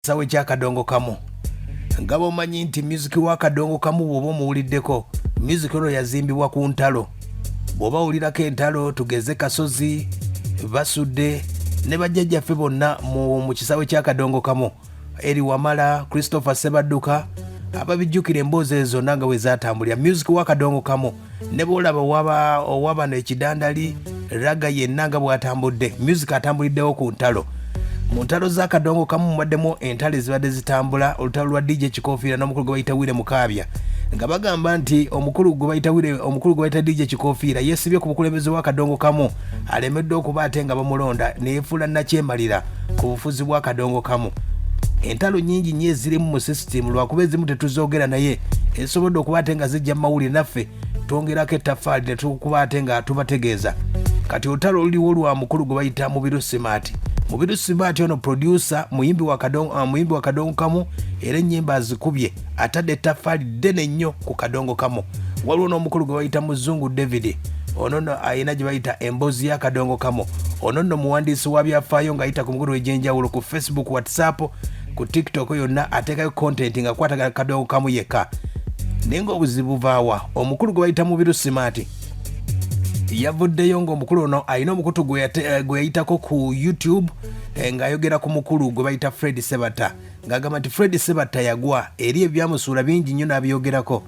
sawa ekyakadongo kamu nga bomanyi nti myuziki wa kadongo kamu bwoba omuwuliddeko myuziki ono yazimbibwa ku ntalo bwoba wulirako entalo tugeze kasozi basudde ne bajjajjaffe bonna mu, mu kisaawe kyakadongo kamu eri wamala christopher sebadduka ababijjukira emboozi ezo zonna nga bwe zatambulira myuziki wa kadongo kamu ne bwolaba owaba owaba nekidandali raga yenna nga bwatambudde music atambuliddewo ku ntalo mu ntalo z'akadongo kamu mubaddemu entalo ezibadde zitambula olutalo lwa dj kikofiira n'omukulu gwe bayita wire mukaabya nga bagamba nti omukulu gwe bayita wire omukulu gwe bayita dj kikofiira yeesibye ku bukulembeze bw'akadongo kamu alemeddwa okuba ate nga bamulonda neyefuula nakyemalira ku bufuzi bwa kadongo kamu entalo nyingi nyo ezirimu mu sisitimu lwakuba ezimu tetuzogera naye ezisobodde okuba ate nga zijja mu mawulire naffe twongerako ettafaali netukuba ate nga tubategeeza kati olutalo oluliwo lwa mukulu gwe bayita mubiru simaati mubiru simaati ono producer muyimbi wa kadongo kamu era ennyimba azikubye atadde ettaffaali ddene nnyo ku kadongo kamu waliwo n'omukulu gwe bayita muzungu david ono no alina gye bayita emboozi y'akadongo kamu ono nno muwandiisi wa byafaayo ng'ayita ku mikutu egy'enjawulo ku facebook whatsapp ku tiktok yonna ateekayo kontenti nga kwatagala kadongo kamu yekka naye ng'obuzibu buvaawa omukulu gwe bayita mubiru simaati yavuddeyo ng'omukulu ono alina omukutu gwe eh, yayitako ku youtube eh, ng'ayogera ku mukulu gwe bayita fred sebata ng'agamba nti fred sebatta yagwa eri ebyamusuula bingi nnyo n'abyogerako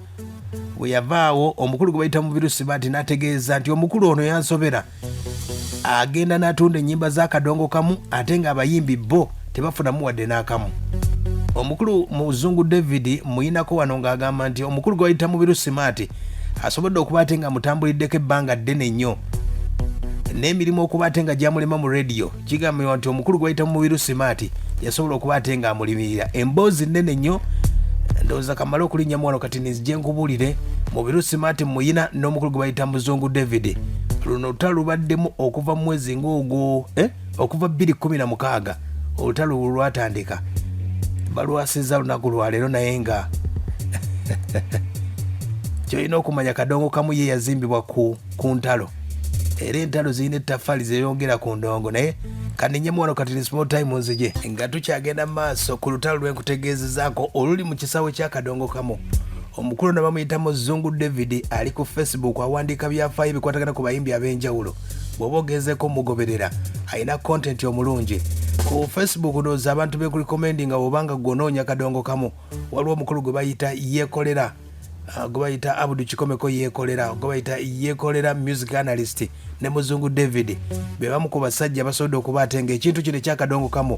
bwe yavaawo omukulu gwe bayita mubiru sibaati n'ategeeza nti omukulu ono yansobera agenda n'atunda ennyimba z'akadongo kamu ate ng'abayimbi bo tebafunamu wadde n'akamu omukulu muzungu david muyinako wano ng'agamba nti omukulu gwe bayita mubiru simaati asobodde okuba ate nga mutambuliddeko ebbanga ddene nnyo n'emirimu okuba ate nga gyamulema mu rediyo kigambibwa nti omukulu gwayita mu mubiru simaati yasobola okuba ate nga amulimirira emboozi nnene nnyo ndowooza kamale okulinnya muwano kati nizije nkubuulire mubiru simaati muyina n'omukulu gwe bayita muzungu david luno olutalo lubaddemu okuva mu mwezi ng'ogwo eh? okuva 216 olutalo lu lwatandika balwasiza lunaku lwaleero naye nga kyolina okumanya kadongo kamu ye yazimbibwa ku ku ntalo era entalo zirina ettaffaali zeyongera ku ndongo naye kaninyemu wano kati small time nzije nga tukyagenda mu maaso ku lutalo lwenkutegeezezaako oluli mu kisaawe kyakadongo kamu omukulu na bamuyitamu zungu david ali ku facebook awandiika byafaayo ebikwatagana ku bayimbi ab'enjawulo bw'oba ogezeeko omugoberera alina kontenti omulungi ku facebook nooza abantu bekulikomendinga obanga gwonoonya kadongo kamu waliwo omukulu gwe bayita yekolera Ah, gwebayita abudu kikomeko yekolera gwebayita yekolera music analyst ne muzungu david bebamu ku basajja basobodde okuba ate nga ekintu kino ekyakadongo kamu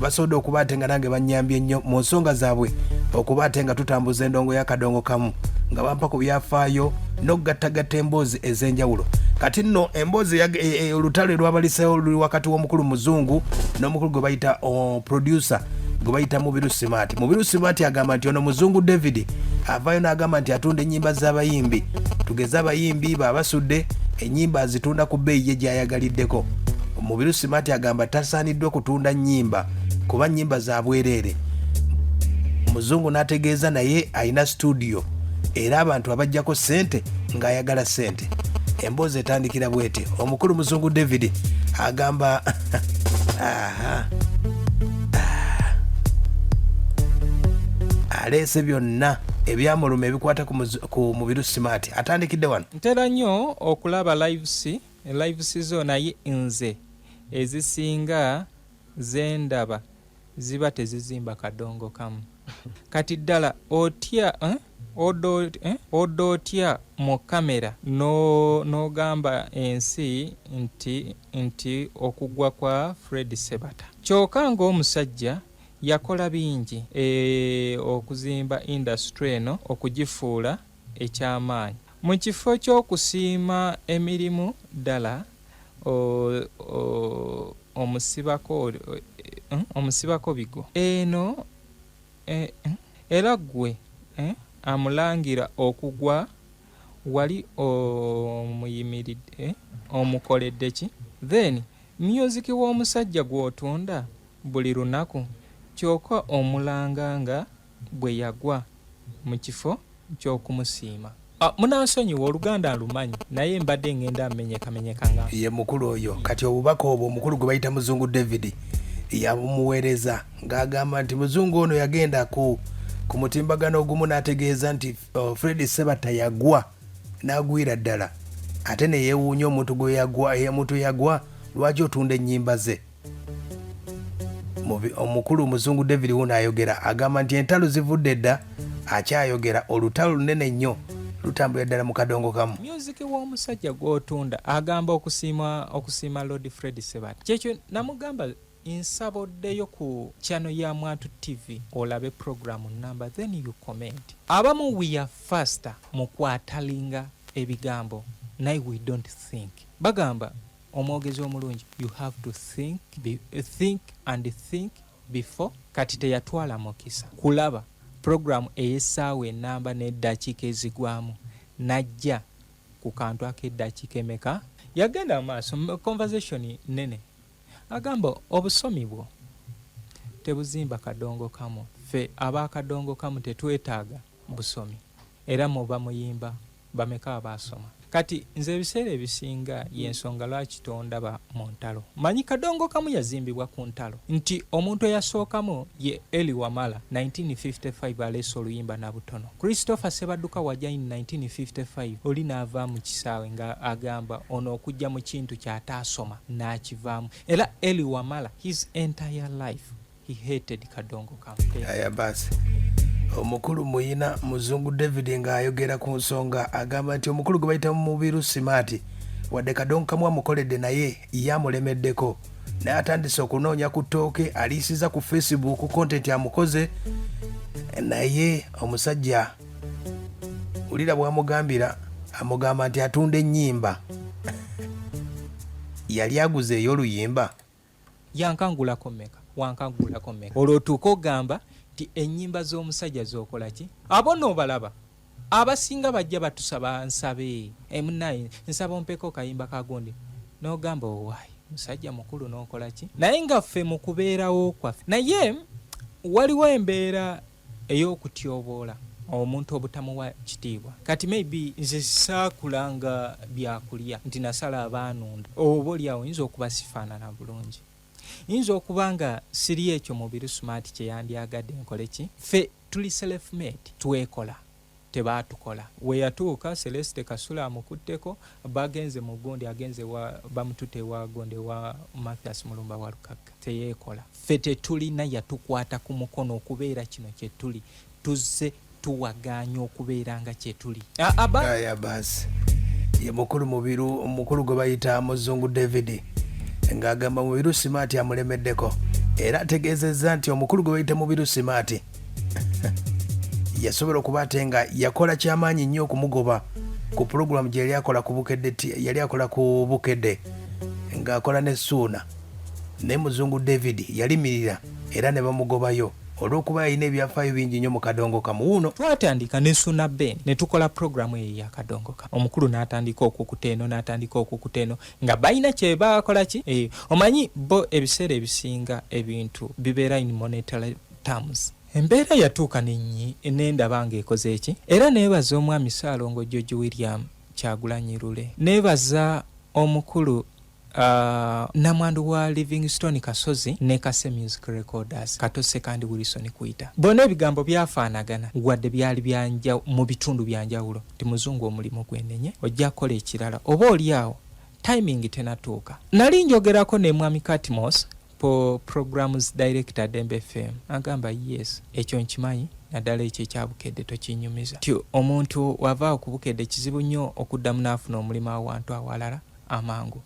basobodde okuba ate nga nange banyambye nnyo mu nsonga zaabwe okuba ate nga tutambuza endongo yakadongo kamu nga bampa ku byafaayo n'okugattagatta emboozi ez'enjawulo kati nno emboozi e, e, olutalo erwabalisewo luli wakati w'omukulu muzungu n'omukulu gwe bayita oh, producer gwe bayita mubiru simaati mubiru simaati agamba nti ono muzungu david avayo n'agamba nti atunda ennyimba z'abayimbi tugeze abayimbi baabasudde ennyimba azitunda ku bbeeyi ye gy'ayagaliddeko mubiru simaati agamba tasaaniddwa kutunda nnyimba kuba nnyimba za bwereere muzungu n'ategeeza naye alina situdiyo era abantu abajjako ssente ng'ayagala ssente emboozi etandikira bwete omukulu muzungu david agamba Aha. Ah. aleese byonna ebyamuluma ebikwata ku muzu- ku mubiru simaati atandikidde wano ntera nnyo okulaba lives lives zo naye nze ezisinga zendaba ziba tezizimba kadongo kamu kati ddala otya eh? Odda eh, otya mu kamera n'ogamba ensi nti, nti okugwa kwa Fred Sebata. Kyoka ng'omusajja yakola bingi e, okuzimba indasitule eno okugifuula eky'amaanyi. Mu kifo ky'okusiima emirimu ddala o, o, omusibako, eh, omusibako bigo. Eno Era ggwe amulangira okugwa wali omuyimiridde omukoledde ki? Then music w'omusajja gw'otunda buli lunaku kyoka omulanga nga bwe yagwa mu kifo. kyokumusiima ah, munansonyiwa oluganda alumanyi naye mbadde ngenda amenyekamenyeka nga ye mukulu oyo kati obubaka obwo omukulu gwe bayita muzungu david yabumuweereza ng'agamba nti muzungu ono yagenda ku ku mutimbagano ogumu n'ategeeza nti uh, fred sebatta yagwa n'agwira ddala ate ne yeewuunya omuntu gwe yagwa emuntu yagwa lwaki otunda ennyimba ze omukulu omuzungu david wuno ayogera agamba nti entalo zivudde dda akyayogera olutalo lunene nnyo lutambulira ddala mu kadongo kamu myuziki w'omusajja gw'otunda agamba okusiima okusiima lord fred sebat kyekyo namugamba nsaba oddeyo ku chano ya mwatu tv olabe programu number then you comment abamu we are faster mu kwatalinga ebigambo naye we don't think bagamba Omwogezi omulungi you have to think, be, think and think before. Kati teyatwala mukisa kulaba program ey'essaawa enamba n'eddakiika ezigwamu najja ku kantu ak'eddakiika emeka? Yagenda mu maaso mu conversation nnene agamba obusomi bwo tebuzimba kadongo kamu, ffe ab'akadongo kamu tetwetaaga busomi era mu bamuyimba bameka abaasoma? Kati nze ebiseera ebisinga yensonga lwaki tondaba mu ntalo. Manyi kadongokamu yazimbibwa ku ntalo nti omuntu eyasookamu ye Elly Wamala 1955 aleese oluyimba Nabutono. Christopher Ssebadduka wagya in 1955 oli n'ava mu kisaawe nga agamba ono okujja mu kintu ky'ataasoma n'akivaamu era Elly Wamala his entire life he hated kadongo campaign aya basi omukulu muyina muzungu david ng'ayogera ku nsonga agamba nti omukulu gwe bayita mu mubiru simaati wadde kadongo kamu amukoledde naye ye amulemeddeko naye atandise okunoonya ku ttooke aliisiza ku facebook kontenti amukoze naye omusajja wulira bwamugambira amugamba nti atunda ennyimba yali aguze ey'oluyimba Yankangulako meka wankagulako meka olwo otuuka ogamba nti enyimba z'omusajja zokola ki abo nobalaba abasinga bajja batusaba nsabe emunaye eh, nsaba ompeko kayimba kagundi nogamba owaye oh, musajja mukulu nokola ki naye nga ffe mukubeerawo kwaffe naye waliwo embeera eyokutyoboola omuntu obutamuwa kitiibwa kati may be nze saakula nga byakulya nti nasala abaanunda oba olyawo yinza okuba sifaanana bulungi yinza okuba nga siri ekyo mubiru smart kyeyandyagade nkoleki fe tuli self made twekola tebaatukola. We yatuuka, Celeste Kasule amukutteko, bagenze mu gundi agenze ewa bamututte ewa gundi ewa Mathias Mulumba Walukagga. Teyeekola. Ffe tetulina yatukwata ku mukono okubeera kino kye tuli. Tuzze tuwagaanya okubeera nga kye tuli. Aya baasi. Ye mukulu Mubiru, mukulu gwe bayita Muzungu David ng'agamba Mubiru Simaati amulemeddeko era ategeezezza nti omukulu gwe bayita Mubiru Simaati yasobola okuba ate nga yakola kyamaanyi nnyo okumugoba ku pulogulaamu gye yali akola ku bukedde ti- yali akola ku bukedde ng'akola ne suuna naye muzungu david yalimirira era ne bamugobayo olw'okuba yalina ebyafaayo bingi nnyo mu kadongo kamu wuuno twatandika ne suna ben ne tukola pulogulaamu eyo yakadongoka omukulu n'atandika okukuta eno n'atandika okukuta eno nga balina kye bakola ki Eh, omanyi bo ebiseera ebisinga ebintu bibeera in monetary terms. Embeera yatuuka ne nnyi ne ndaba ng'ekoze ki? Era neebaza Omwami Ssaalongo George William Kyagulanyi Lule. Neebaza omukulu Uh, namwandu wa Livingstone Kasozi ne Kase Music Recorders Kato Sekandi Wilson Kuita bona ebigambo byafaanagana wadde byali byanja mu bitundu bya njawulo nti muzungu omulimu gwenenye ojja kukola ekirala oba oli awo timing tenatuuka. Nali njogerako ne Mwami Katmos po programs director dembe fm agamba yes ekyo nkimanyi naddala ekyo ekyabukedde tokinyumiza ti omuntu wavaawo kubukedde kizibu nnyo okuddamu naafuna omulimu awantu awalala amangu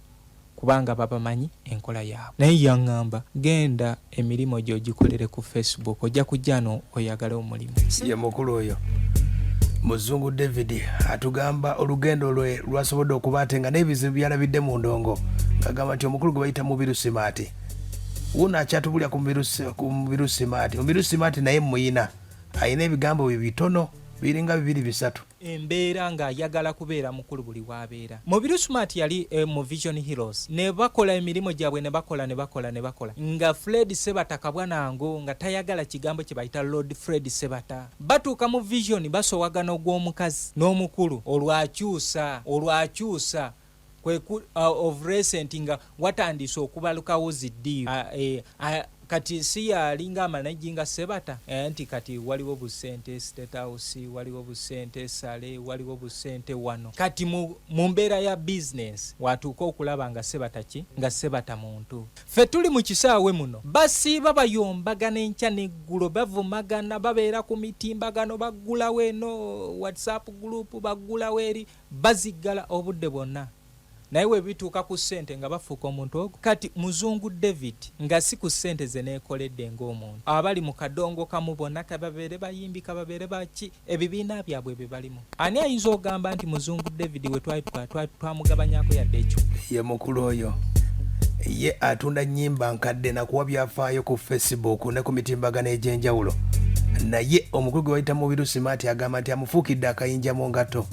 kubanga babamanyi enkola yaabwe naye yaŋŋamba genda emirimu gyogikolere ku facebook ojja kujjano oyagale omulimu ye mukulu oyo muzungu david atugamba olugendo lwe lwasobodde okuba ate nga n'ebizibu byalabidde mu ndongo ngagamba nti omukulu gwe bayita mubiru simaati wuno akyatubulira ku mubiru simaati mubiru simaati naye muyina alina ebigambo bye bitono biringa bibiri bisatu embeera ng'ayagala kubeera mukulu buli w'abeera. Mubiru Smart yali eh, mu Vision Heroes ne bakola emirimu gyabwe ne bakola ne bakola ne bakola nga Fred Sebata kabwa nango nga tayagala kigambo kye bayita Lord Fred Sebata. Batuuka mu Vision basowagana ogw'omukazi n'omukulu olwakyusa olwakyusa kweku uh, of recent nga watandise okubalukawo zidii uh, eh, uh, kati si yalinga amanajinga sebata eh, nti kati waliwo busente statehouse waliwo busente sale waliwo busente wano kati mu, mu mbeera ya bizinesi watuuka okulaba nga sebata ki nga sebata muntu fe tuli mu kisaawe muno basiiba bayombagana enkya neggulo bavumagana babeera ku mitimbagano baggulawo eno whatsapp group baggulawo eri Baziggala obudde bwonna naye webituuka ku ssente nga bafuuka omuntu ogu. Kati muzungu David nga si ku ssente ze neekoledde ng'omuntu. Abali mu kadongo kamu bonna ka babeere bayimbi ka babeere ba ki ebibiina byabwe bye balimu ani ayinza ogamba nti muzungu David we twali tukola twali twamugabanyako yadde ekyuma. Ye mukulu oyo ye atunda nnyimba nkadde nakuwa byafaayo ku Facebook ne ku mitimbagano egy'enjawulo naye omukulu gwe bayita Mubiru Smart agamba nti ofuukidde akayinja mu ngatto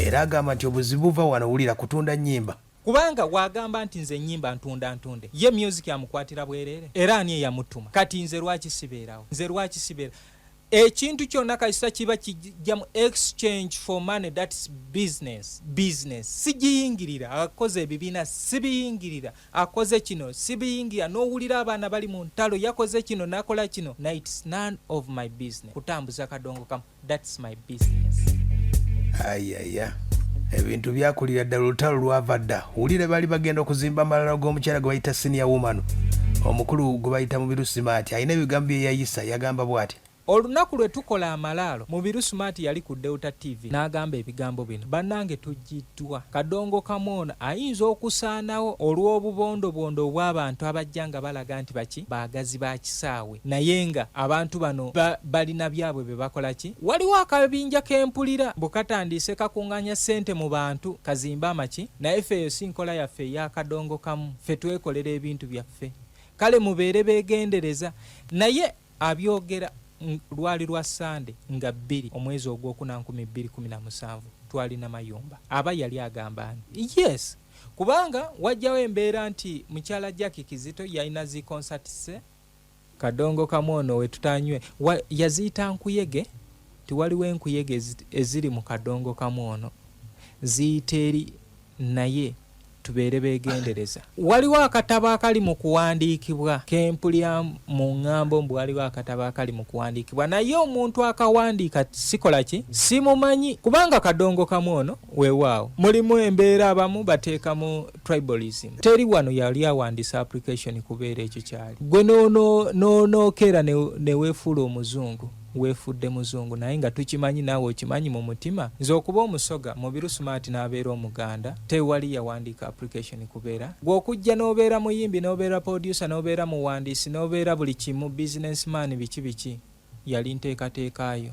era agamba nti obuzibu buva wano wulira kutunda nnyimba. Kubanga bw'agamba nti nze nnyimba ntunda ntunde, ye myuziki amukwatira bwereere? Era ani eyamuttuma? Kati nze lwaki sibeerawo? Nze lwaki sibeera ekintu kyonna kasita kiba kijjamu exchange for money that's business business sijiyingirira akoze ebibiina sibiyingirira akoze kino sibiyingira nowulira abaana bali mu ntalo yakoze kino nakola kino na its none of my business kutambuza kadongo kamu thats my business ayaya ebintu byakulira ddala olutalo lwava dda wulire bali bagenda okuzimba amalala g'omukyala gwe bayita siniya woman omukulu gwe bayita mu birusimaati alina ebigambo byeyayisa yagamba bwati Olunaku lwe tukola amalaalo, Mubiru Smart yali ku Delta TV n'agamba ebigambo bino, Bannange tuggiddwa. Kadongokamu ono ayinza okusaanawo olw'obubondobondo obw'abantu abajja nga balaga nti baki baagazi ba kisaawe naye nga abantu bano ba balina byabwe bye bakola ki? Waliwo akabinja ke mpulira mbu katandiise kakung'anya ssente mu bantu kazimbe amaki naye ffe eyo si nkola yaffe eya Kadongokamu. Ffe twekolera ebintu byaffe. Kale mubeere beegendereza. Naye Abyogera lwali lwa Ssande nga bbiri omwezi ogwokuna nkumi bbiri kumi na musanvu twali Namayumba. Aba yali agamba ani? Yes! Kubanga wajjawo embeera nti mukyala Jackie Kizito yalina zi concerts ze. Kadongo kamu ono we tutanywe wa, yaziyita nkuyege nti waliwo enkuyege eziri mu kadongo kamu ono ziyita eri naye tubeere begendereza waliwo akatabo akali mu kuwandiikibwa kempulya mu ŋŋambo mbu waliwo akatabo akali mu kuwandiikibwa naye omuntu akawandiika sikola ki simumanyi kubanga kadongo kamu ono weewaawo mulimu embeera abamu bateekamu tribalism teri wano yali awandiisa application kubeera ekyo kyali gwe noonokeera neweefuula omuzungu wefudde muzungu naye nga tukimanyi naawe okimanyi mu mutima nze okuba omusoga mubiru smart n'abeera omuganda tewali yawandiika application kubeera gwe okujja n'obeera muyimbi n'obeera producer n'obeera muwandiisi n'obeera buli kimu business man biki biki yali nteekateeka yo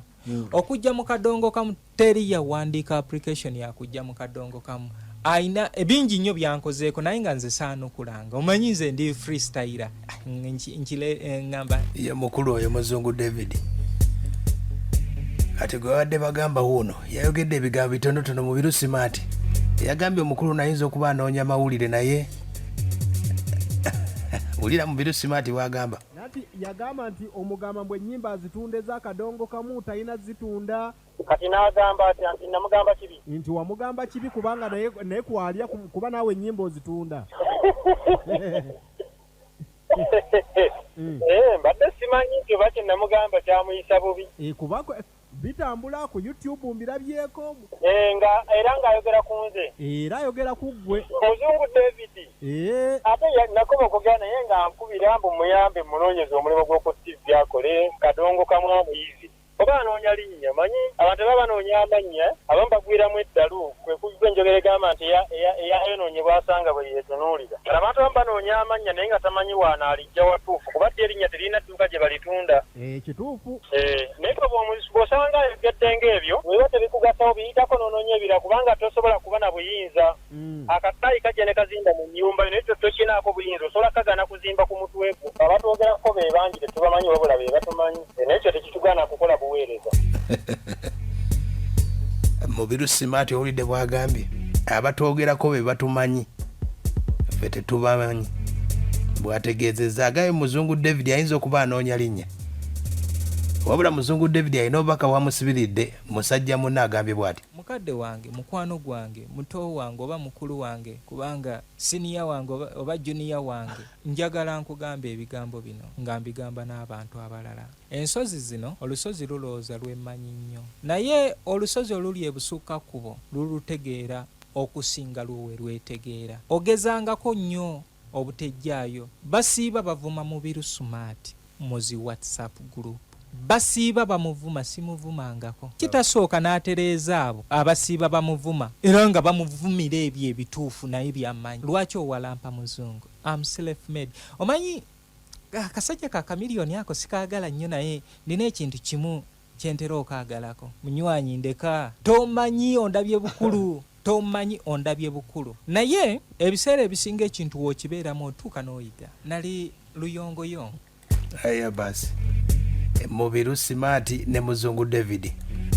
okujja mu kadongo kamu Teri yawandiika application ya kujja mu kadongo kamu. Ayina ebingi nnyo byankozeeko naye nga nze saanukulanga. Omanyi nze ndi free styler. Ah, nkile eh, ngamba. Ye mukulu oyo muzungu David. Kati gwe wadde bagamba wuuno yayogedde ebigambo bitonotono mu birusimaati yagambye omukulu nayinza okuba anoonya mawulire naye wulira mu birusimaati bwagamba Nati yagamba nti omugamba mbu enyimba azitunda eza kadongo kamu tayina zitunda. Kati nagamba atya nti namugamba kibi. Nti wamugamba kibi kubanga naye naye kwalya kuba nawe enyimba ozitunda. Eh mbadde simanyi nti oba kyenamugamba kyamuyisa bubi. Eh kuba Bitambula ku YouTube mbirabyeko. Eeh nga era nga ayogera kunze. Era ayogera kuggwe. Muzungu David. Eeh. Ate ya nakoba okugera naye nga ankubira mbu muyambe munonyeze omulimu gwoku TV akole kadongo kamu amuyizi oba anoonya linnya manyi abantu baba banoonya amannya abamu bagwiramu eddalu kwe kujja enjogera egamba nti eyayonoonye bwasanga bwe yeetunuulira abantu abamu banoonya amannya naye nga tamanyi waanaalijja watuufu kuba ddi erinnya teririna dduuka gye balitunda Eh, kituufu eh, naye bwosanga ayogedde ngaebyo weba tebikugasawo biyitako nononya ebira kubanga tosobola kuba na buyinza mm. akataayi kajja ne kazimba mu nyumba naye tokinaako buyinza osobola kagana kuzimba ku mutwegwo abatwogerako bebangi tetubamanyi wabula bebatumanyi eh, naye kyo tekitugana kukola buweereza mubiru simaati owulidde bwagambye abatwogerako bebatumanyi ffe tetubamanyi bwategeezezza agaye muzungu david ayinza okuba anoonya linnya wabula muzungu david alina obubaka wamusibiridde musajja munna agambye bwati mukadde wange mukwano gwange muto wange oba mukulu wange kubanga siniya wange oba juniya wange njagala nkugamba ebigambo bino nga mbigamba n'abantu abalala ensozi zino olusozi lulowooza lwemanyi nnyo naye olusozi oluli ebusukka kkubo lulutegeera okusinga lwo we lwetegeera. Ogezangako nnyo obutejjaayo. Basiiba bavuma Mubiru Smart mu zi WhatsApp group. Basiiba bamuvuma simuvumangako. Kitasooka n'atereeza abo abasiiba bamuvuma era nga bamuvumira ebyo ebituufu naye by'amanyi. Lwaki owalampa Muzungu? Am self made. Omanyi akasajja ka Chameleon ako sikaagala nnyo naye nnina ekintu kimu Kyentera okaagalako munywanyi ndeka. Tomanyi ondabye bukulu tomanyi ondabye bukulu naye ebiseera ebisinga ekintu wokibeeramu otuuka n'oyiga. Nali luyongoyongo. Haya basi mubiru simaati ne muzungu david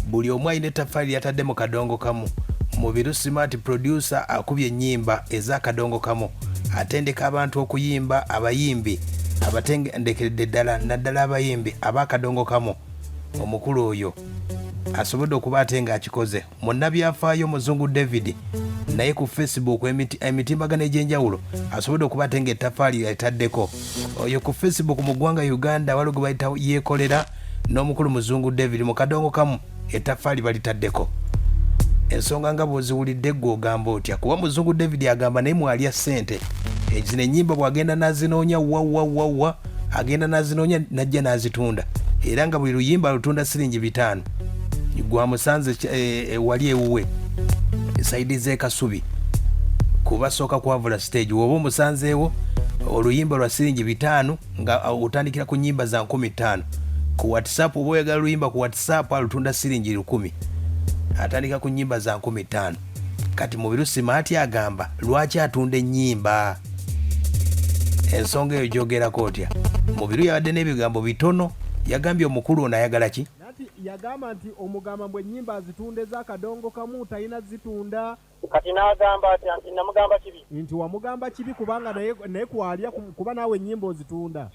buli omu alina ettaffaali lyatadde mu kadongo kamu mubiru simaati producer akubye ennyimba ez'akadongo kamu Atendeka abantu okuyimba, abayimbi abatendekeredde ddala naddala abayimbi ab'akadongo kamu omukulu oyo asobodde okuba ate ng'akikoze munnabyafaayo omuzungu david naye ku facebook emiti- emitimbagano egy'enjawulo asobodde okuba ate ng'ettafaali yalitaddeko oyo ku facebook mu ggwanga uganda waliwo gwe bayita yeekolera n'omukulu muzungu david mu kadongo kamu etaffaali balitaddeko ensonga nga bwoziwulidde gwe ogamba otya kuba muzungu david agamba naye mwalya ssente zino enyimba bwagenda nazinoonya wawawawa agenda nazinoonya najja nazitunda era nga buli luyimba alutunda siringi bitaano gwamusanze eh, eh, wali ewuwe esaidi zekasubi kubasooka kwavula stage woba omusanzeewo oluyimba lwa siringi bitaano nga otandikira ku nyimba za nkumi ttaano ku whatsapp oba oyagala luyimba ku whatsapp alutunda siringi lukumi atandika ku nyimba za nkumi ttaano kati mubiru simaati agamba lwaki atunda enyimba ensonga eyo gyogerako otya mubiru yabadde n'ebigambo bitono yagambye omukulu ono ayagala ki yagamba nti omugamba mbu enyimba azitunda ezakadongo kamu talina zitunda Kati n'agamba atya nti namugamba kibi? Nti wamugamba kibi kubanga naye naye kwalya kuba naawe ennyimba ozitunda.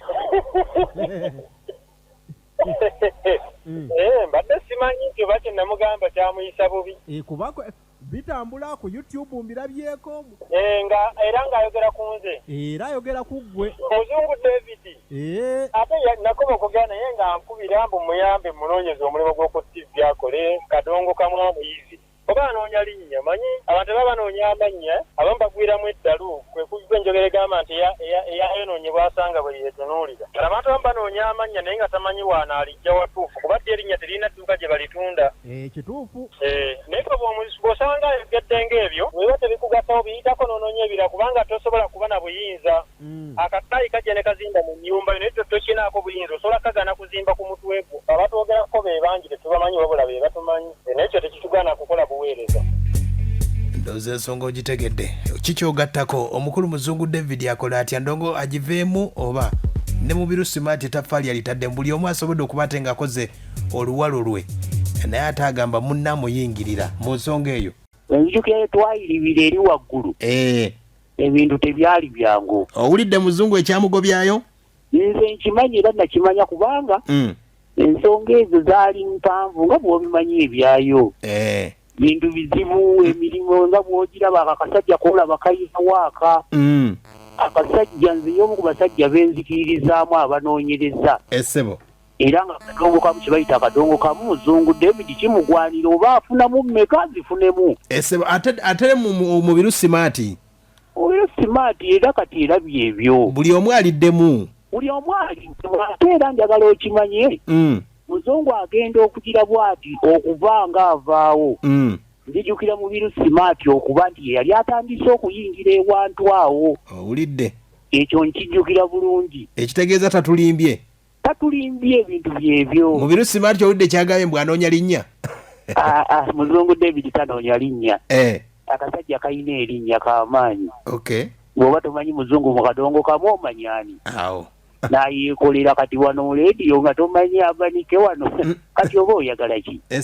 Eh, mbadde simanyi nti oba kye namugamba kyamuyisa bubi. Eh, kuba bitambula ku YouTube mbirabyeko. Eh, nga era ng'ayogera ku nze. Era ayogera ku ggwe. Muzungu David. Eh. Ate nakoma okugera naye nga nkubira mbu muyambe munoonyeze omulimu gw'oku TV akole kadongo kamu omuyizi. Oba anoonya linnya? Omanyi, abantu bwe baba banoonya amannya, abamu bagwiramu eddalu, kwe kugwa enjogera egamba nti, Eya, eyayonoonye bw'asanga bwe yeetunuulira. Kati abantu abamu banoonya amannya naye nga tamanyi w'anaaliggya watuufu, kuba ddi erinnya teririna dduuka gye balitunda. Eeh, kituufu. Eeh, naye ffe bw'omu, bw'osanga ayogedde ng'ebyo, bwe biba tebikugasawo, biyitako n'onoonya ebirala, kubanga tosobola kuba na buyinza. Mm. akasaayi kajja ne kazimba mu nnyumba yo naye tokinaako buyinza osobola kagana kuzimba ku mutwe gwo abatwogerako be bangi tetubamanyi wabula be batumanyi eh, naye kyo tekitugaana kukola buweereza ndooza ensonga ogitegedde kikyogattako omukulu muzungu david akola atya ndongo agiveemu oba ne mubiru simaati etaffaali yalitadde mu buli omu asobodde okuba ate ng'akoze oluwalo lwe naye ate agamba munna amuyingirira mu nsonga eyo enzijukira yetwayiribira eri waggulu eh. ebintu tebyali byangu owulidde muzungu ekyamugobyayo nze nkimanyi era nakimanya kubanga mm. ensonga ezo zaali mpanvu nga bwobimanyi ebyayo eh. bintu bizibu emirimu nga bwogiraba ako akasajja kolaba kayina waaka mm. akasajja nze yomu ku basajja benzikiririzaamu abanoonyereza esebo eh, era nga kadongo kamu kyebayita akadongo kamu muzungu david kimugwanira oba afunamu mmeka zifunemu ate mubiru simaati oyo simaati era kati era byebyo buli omu aliddemu buli omu aliddemu ate era njagala okimanye mm. muzungu agenda okugira bwati okuva nga avaawo mm. nzijukira mubiru simaati okuba nti yeyali atandise okuyingira ewantu awo owulidde ekyo nkijjukira bulungi ekitegeeza tatulimbye tatulimbye ebintu byebyo mubiru simaati owulidde kyagambye mbu anoonya linnya ah, ah, muzungu david tanoonya linnya eh. akasajja kalina erinnya kamaanyi bwoba tomanyi muzungu mu kadongo kamu omanyani nayekolera kati wano lediyo nga tomanyi abanike wano mm. kati oba oyagala ki eh,